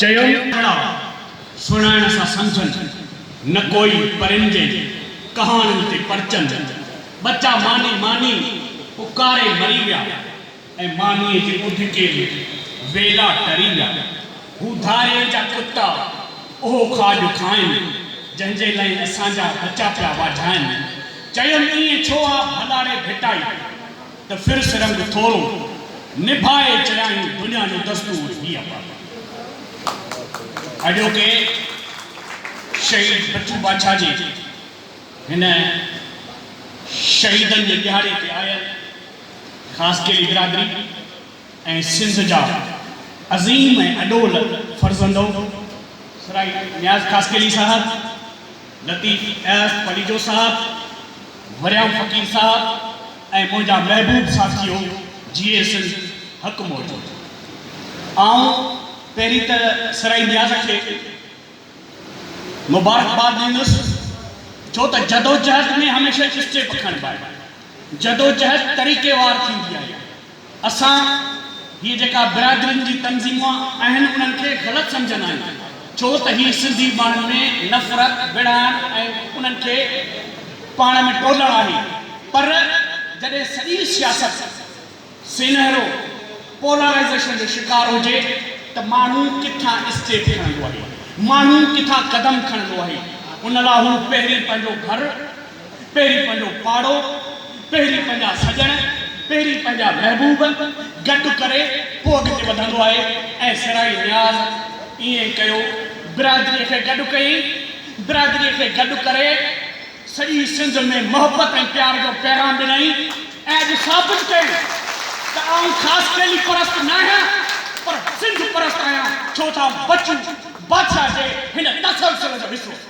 چيم ته سڻائڻ سان سمجهن نه ڪوئي پرنجين ڪهاڻين تي پرچن ٻچا ماني ماني پڪاري مري ويا ۽ مانيء جي اڌڪي ۾ ويلا ٽري ويا هو ڌاري جا ڪتا اهو کاڄ کائن جنهن جي لئه اسان جا ٻچا پيا واجهائن چيم ائين ڇو آ ڀلاڙي ڀٽائي ته ڦر سرنگ ٿورو نڀائي چيائين دنيا جو دستور هي آ بابا. اڄوڪي شهيد بچو باڇا جي هن شهيدن جي ڏهاڙي تي آيل خاصخيلي برادري ۽ سنڌ جا عظيم ۽ اڏول فرزندو سرائي نياز خاصخيلي صاحب، لطيف اياز پليجو صاحب، وريام فقير صاحب، ۽ منهنجا محبوب ساٿيو جي اي سنڌ حق موجود آئون پهرين ته سرائي نياز کي مبارڪباد ڏيندس ڇو ته جدوجهد ۾ هميشه اسٽيپ کڻبا آهن جدوجهد طريقي وار ٿيندي آهي اسان هي جيڪا برادرين جي تنظيمون اهن انهن کي غلط سمجهندا آهيون ڇو ته هي سنڌي ماڻهن ۾ نفرت وڙهائڻ ۽ انهن کي پاڻ ۾ ٽولڻ آهي پر جڏهن سڄي سياست سينهرو پولارائيزيشن جو شڪار هجي ته ماڻهو ڪٿان اسٽيپ کڻندو آهي ماڻهو ڪٿان قدم کڻندو آهي ان لا هو پهرين پنهنجو گهر پهرين پنهنجو پاڙو، پهرين پنهنجا سڄڻ، پهرين پنهنجا محبوب گڏ ڪري پوء اڳتي وڌندو آهي ۽ سرائي نياز ائين ڪيو، برادريء کي گڏ ڪيئي، برادريء کي گڏ ڪري سڄي سنڌ ۾ محبت ۽ پيار جو پيغام ڏنائين ۽ اڄ ثابت ڪيائين ته آئون خاصخيلي پرست ناهيان پر سنڌ پرست آهيان ڇو ته آئون بچو بادشاهه جي هن تسلسل جو حصو آهيان.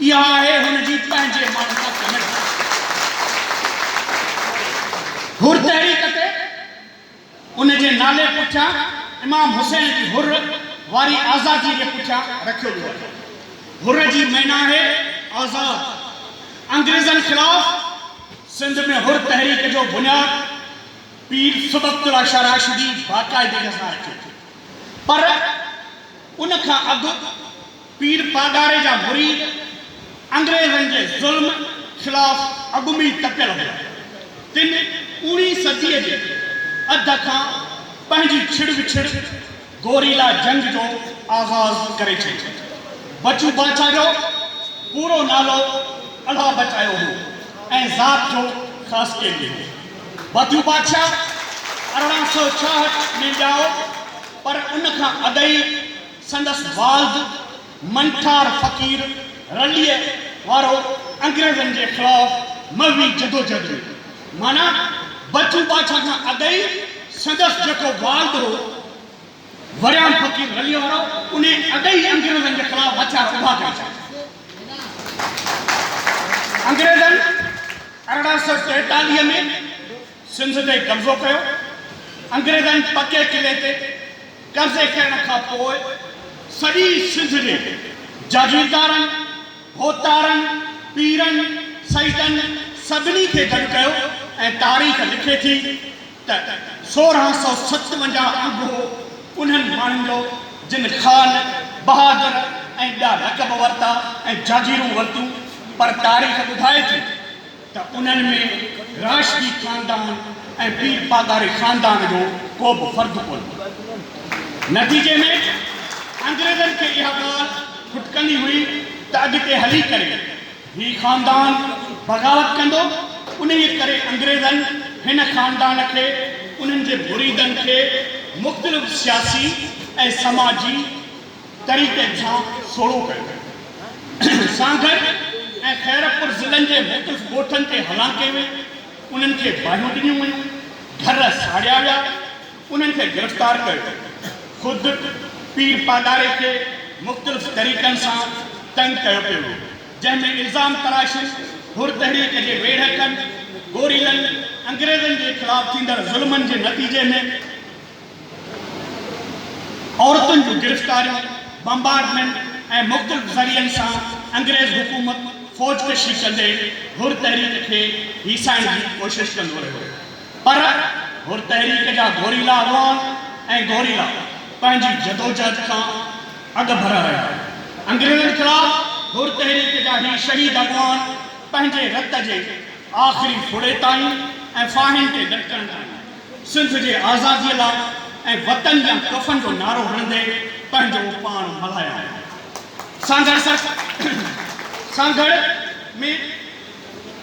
اها آهي هن جي پنهنجي ماڻهن سان ڪميٽ ڪرڻ جي حر تحريڪ تي ان جي نالي پٺيان امام حسين جي حر واري آزادي جي پٺيان رکيو ويو آهي حر جي معنيٰ آهي آزاد انگريزن خلاف سنڌ ۾ حر تحريڪ جو بنياد پير سبڪت الله شاهه راشدي باقاعدگي سان رکيو پر ان کان اڳ پير پاڳاري جا مريد انگريزن جي ظلم خلاف اڳمي تپيل هئا. تن اوڻي صديء جي اڌ کان پنهنجي ڇڙ وڇڙ گوريلا جنگ جو آغاز ڪري ڇڏيو. بچو باچا جو پورو نالو الهه بچايو هو ۽ ذات جو خاصخيلي هو. بچو باچا ارڙهن سؤ ڇاهٺ ۾ ڄائو پر ان کان اڳ ئي، سندس والد منٺار فقير رليء وارو انگريزن جي خلاف مغوي جدوجھد ۾ معنيٰ بچو بادشاھ کان اڳ ئي سندس جيڪو والد هو وريام فقير رليء وارو انهي اڳ ئي انگريزن جي خلاف هٿيار اڀا ڪري ڇڏيا. انگريزن ارڙهن سؤ ٽيتاليهه ۾ سنڌ تي قبضو ڪيو. انگريزن پڪي قلعي تي قبضي ڪرڻ کان پوء سڄي سنڌ جي جاگيردارن، هوتارن، پيرن، سيدن سڀني کي گڏ ڪيو ۽ تاريخ لکي ٿي ته سورهن سؤ ستونجاهه انگ هو انهن ماڻهن جو جن خان، بهادر ۽ ٻيا لقب ورتا ۽ جاگيرون ورتيون پر تاريخ ٻڌائي ٿي. ته انهن ۾ راشدي خاندان ۽ پير پاڳاري خاندان جو ڪو به فرد ڪونه هو. نتيجي ۾ انگريزن کي اها ڳالهه کٽڪندي هئي ته اڳتي هلي ڪري هي خاندان بغاوت ڪندو، انهيء ڪري انگريزن هن خاندان کي، انهن جي مريدن کي مختلف سياسي ۽ سماجي. طريقي سان سوڙهو ڪيو سانگهڙ ۽ خيرپور ضلعن جي مختلف ڳوٺن تي هلان ڪئي وئي، انهن کي باهيون ڏنيون ويون، گهر ساڙيا ويا، انهن کي گرفتار ڪيو ويو، خود پير پاڳاري کي مختلف طريقن سان تنگ ڪيو پيو ويو، جنهن ۾ الزام تراشين، حر تحريڪ جي ويڙهڪن، گوريلن، انگريزن جي خلاف ٿيندڙ ظلمن جي نتيجي ۾. عورتن جون گرفتاريون، بمبارڊمينٽ ۽ مختلف ذريعن سان انگريز حڪومت فوج ڪشي ڪندي حر تحريڪ کي هيسائڻ جي ڪوشش ڪندو رهيو پر حر تحريڪ جا گوريلا اڳواڻ ۽ گوريلا پنهنجي جدوجهد کان اڳڀرا رهيا. انگريزن خلاف حر تحريڪ جا هي شهيد اڳواڻ پنهنجي رت جي آخري ڦڙي تائين ۽ ڦاهين تي لٽڪڻ تائين. سنڌ جي آزاديء لاء ۽ وطن يا ڪفن جو نعرو هڻندي پنهنجو پاڻ ملهايا هئا. سانگهڙ سانگهڙ ۾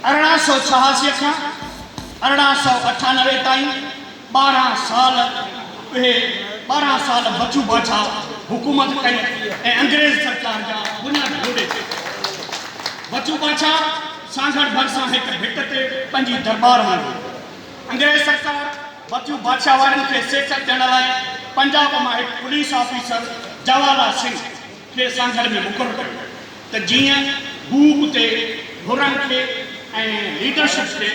ارڙهن سؤ ڇهاسي کان ارڙهن سؤ اٺانوي تائين ٻارهن سال اهي ٻارهن سال بچو باڇا حڪومت ڪئي ۽ انگريز سرڪار جا بنياد لوڏي ڇڏيا. بچو باڇا سانگهڙ ڀرسان هڪ ڀٽ تي پنهنجي درٻار هڻندو هو. انگريز سرڪار مٿيون بادشاهه وارن کي سيکت ڏيڻ لاء پنجاب مان هڪ پوليس آفيسر جواهر لال سنگهه کي سانگهڙ ۾ مقرر ڪيو ته جيئن هو اتي حرن کي ۽ ليڊرشپ کي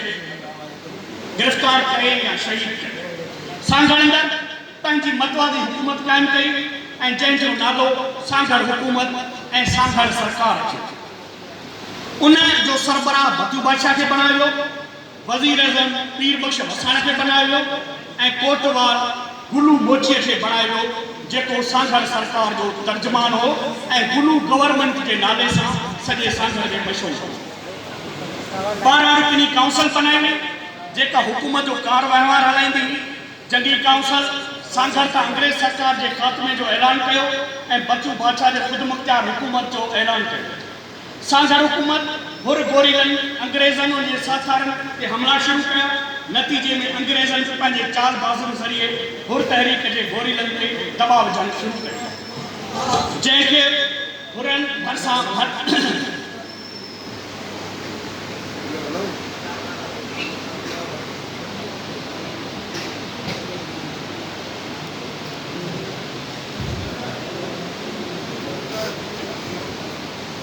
گرفتار ڪري يا شهيد ڪري. سانگهڙ اندر پنهنجي متوازي حڪومت قائم ڪئي ۽ جنهن جو نالو سانگهڙ حڪومت ۽ سانگهڙ سرڪار رکيو. ان جو سربراهه مٿيون بادشاهه کي بڻايو ويو. وزيراعظم پير بخش وساڻ کي بنايو ويو ۽ ڪوٽوال گلو موچيء کي بڻايو ويو جيڪو سانگهڙ سرڪار جو ترجمان هو ۽ گلو گورنمينٽ جي نالي سان سڄي سانگهڙ ۾ مشهور هو. ٻارهن رڪني ڪائونسل بنائي وئي جيڪا حڪومت جو ڪار وهنوار هلائيندي هئي. جنگي ڪائونسل سانگهڙ تان انگريز سرڪار جي خاتمي جو اعلان ڪيو ۽ بچو باڇا جي خودمختيار حڪومت جو اعلان ڪيو. سانجهر حڪومت حر گوريلن، انگريزن، ان جي ساٿارن تي حملا شروع ڪيا. نتيجي ۾ انگريزن به پنهنجي چال بازن ذريعي حر تحريڪ جي گوريلن تي دٻاء وجهڻ شروع ڪيو. جنهن کي حرن ڀرسان ڀر.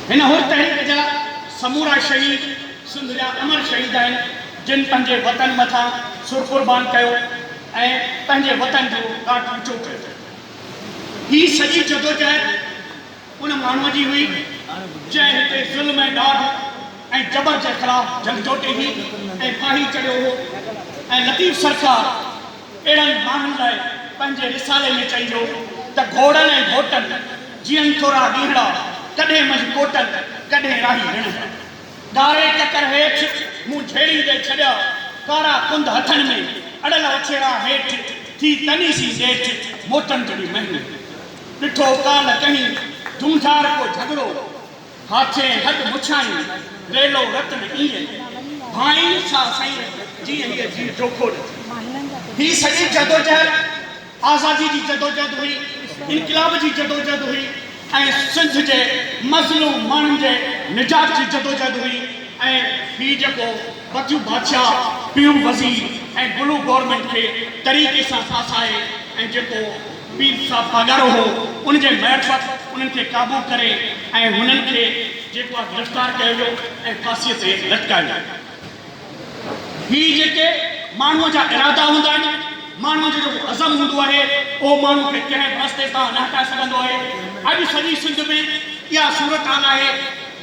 هن حر تحريڪ جا سمورا شهيد سنڌ جا امر شهيد آهن جن پنهنجي وطن مٿان سر قربان ڪيو ۽ پنهنجي وطن جو ڏاڍ اوچو ڪيو. هي سڄي جدوجهد ان ماڻهوء جي هئي جنهن هتي ظلم ۽ ڏاڍ ۽ جبر جي خلاف جنگ جوٽي هئي ۽ ڦاهي چڙهيو هو ۽ لطيف سرڪار، اهڙن ماڻهن لاء پنهنجي رسالي ۾ چئجو ته گهوڙن ۽ گهوٽن جيئن ٿورا ڏينهڙا، ڪڏهن منجهه ڪوٽن، ڪڏهن راهي رڻهڙا. ڳاري ڪڪر هيٺ مون جهيڙيندي ڇڏيا، ڪارا ڪنڌ هٿن ۾ اڙل وڇيرا هيٺ، ٿي تني سين ڏيٺ، موٽن جهڙي مهني. ڏٺو ڪالهه ڪنهين جهونجهار ڪو جهڳڙو. هاٿين هڏ مڇايون، ريلو رت نه ايئن ڀانئي ڇا سائين رت، جيئن هيء جيء جوکو نه ٿئي. هيء سڄي جدوجهد آزاديء جي جدوجهد هئي، انقلاب جي جدوجهد هئي ۽ سنڌ جي مظلوم ماڻهن جي نجات جي جدوجهد هئي ۽ هي جيڪو بتيون بادشاهه، پيون وزير ۽ بلو گورنمينٽ کي طريقي سان ڦاسائي ۽ جيڪو. پير صاحب پاڳارو هو، ان جي معرفت انهن کي قابو ڪري ۽ هنن کي جيڪو آهي گرفتار ڪيو ويو ۽ ڦاسيء تي لٽڪايو ويو. هي جيڪي ماڻهوء جا ارادا هوندا آهن، ماڻهوء جو جيڪو عزم هوندو آهي، اهو ماڻهوء کي ڪنهن به رستي تان نه هٽائي سگهندو آهي. اڄ سڄي سنڌ ۾ اها صورتحال آهي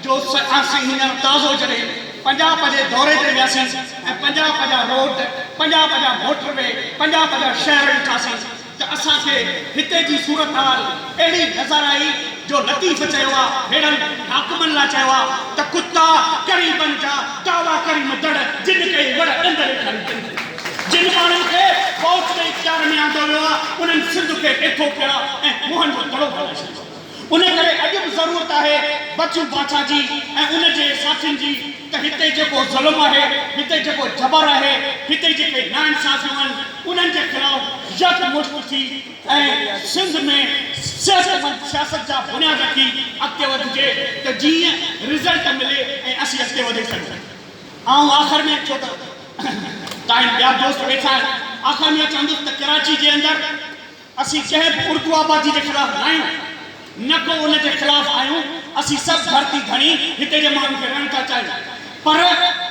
جو اسين هينئر تازو جڏهن پنجاب جي دوري تي وياسين ۽ پنجاب جا روڊ، پنجاب جا موٽر وي، پنجاب جا شهر ڏٺاسين، ته اسان کي هتي جي صورتحال اهڙي نظر آئي جو لطيف چيو آ ههڙن حاڪمن لا چيو آ ته ڪتا قريبن جا ڪاوا ڪريم دڙ جن ڪئي وڙ ڏند ڏيکاري تن کي جن ماڻهن کي فوج جي اختيار ۾ آندو ويو آ انهن سنڌ کي ڏيٿو ڪيو آ ۽ موهن جو دڙو بنائي ڇڏيو آ. ان ڪري اڄ به ضرورت آهي بچو باچا جي ۽ ان جي ساٿين جي ته هتي جيڪو ظلم آهي، هتي جيڪو جبر آهي، هتي جيڪي ناانصافيون آهن انهن جي خلاف يڪ مشت ٿي ۽ سنڌ ۾ صحتمند سياست جا بنياد رکي اڳتي وڌجي ته جيئن رزلٽ ملي ۽ اسين اڳتي وڌي سگهون. آئون آخر ۾ ڇو ته تاين ٻيا دوست ويٺا آهن آخر ۾ اهو چوندس ته ڪراچي جي اندر. اسين ڪنهن به اردو آبادي جي خلاف ناهيون، نه ڪو ان جي خلاف آهيون، اسين سڀ ڌرتي ڌڻي هتي جي ماڻهن کي رهڻ ٿا چاهيون، پر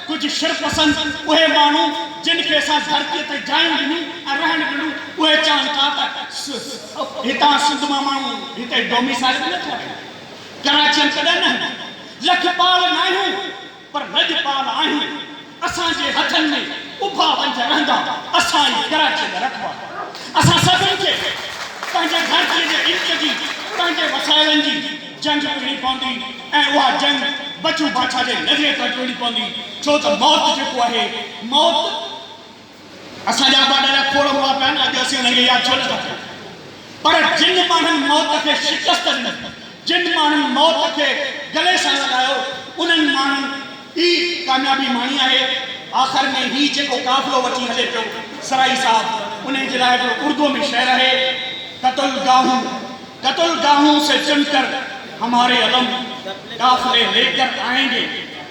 ڪجهه شرپسند اهي ماڻهو جن کي اسان ڌرتي تي جايون ڏنيون ۽ رهڻ ڏنو اهي چاهن ٿا ته هتان سنڌ مان ماڻهو هتي ڊوميسائيل به نه ٺهرائين، ڪراچين ڪڏهن نه هيون، لکپال ناهيون. پر لڄ پال آهيون، اسان جي هٿن ۾ اڀا ونجهه رهندا، اسان ئي ڪراچيء جا رکوال، اسان سڀن کي پنهنجي ڌرتيء جي علم جي، پنهنجي وسائلن جي جنگ وڙهڻي پوندي ۽ اها جنگ بچو باڇا جي نظريي تحت وڙهڻي پوندي، ڇو ته موت جيڪو آهي، موت. اسان جا ابا ڏاڍا کوڙ هئا پيا نه اڄ اسين انهن کي ياد ڇو نه ٿا ڪريون پر جن ماڻهن موت کي شڪست ڏني جن ماڻهن موت کي گلي سان لڳايو انهن ماڻهن ئي ڪاميابي ماڻي آهي آخر ۾ هي جيڪو قافلو وٺي هلي پيو سرائي صاحب انهن جي لاء هڪڙو اردوء ۾ شعر آهي قتل گاهون قتل گاهون سي چن ڪر هماري علم قافلي ليڪر آئينگي.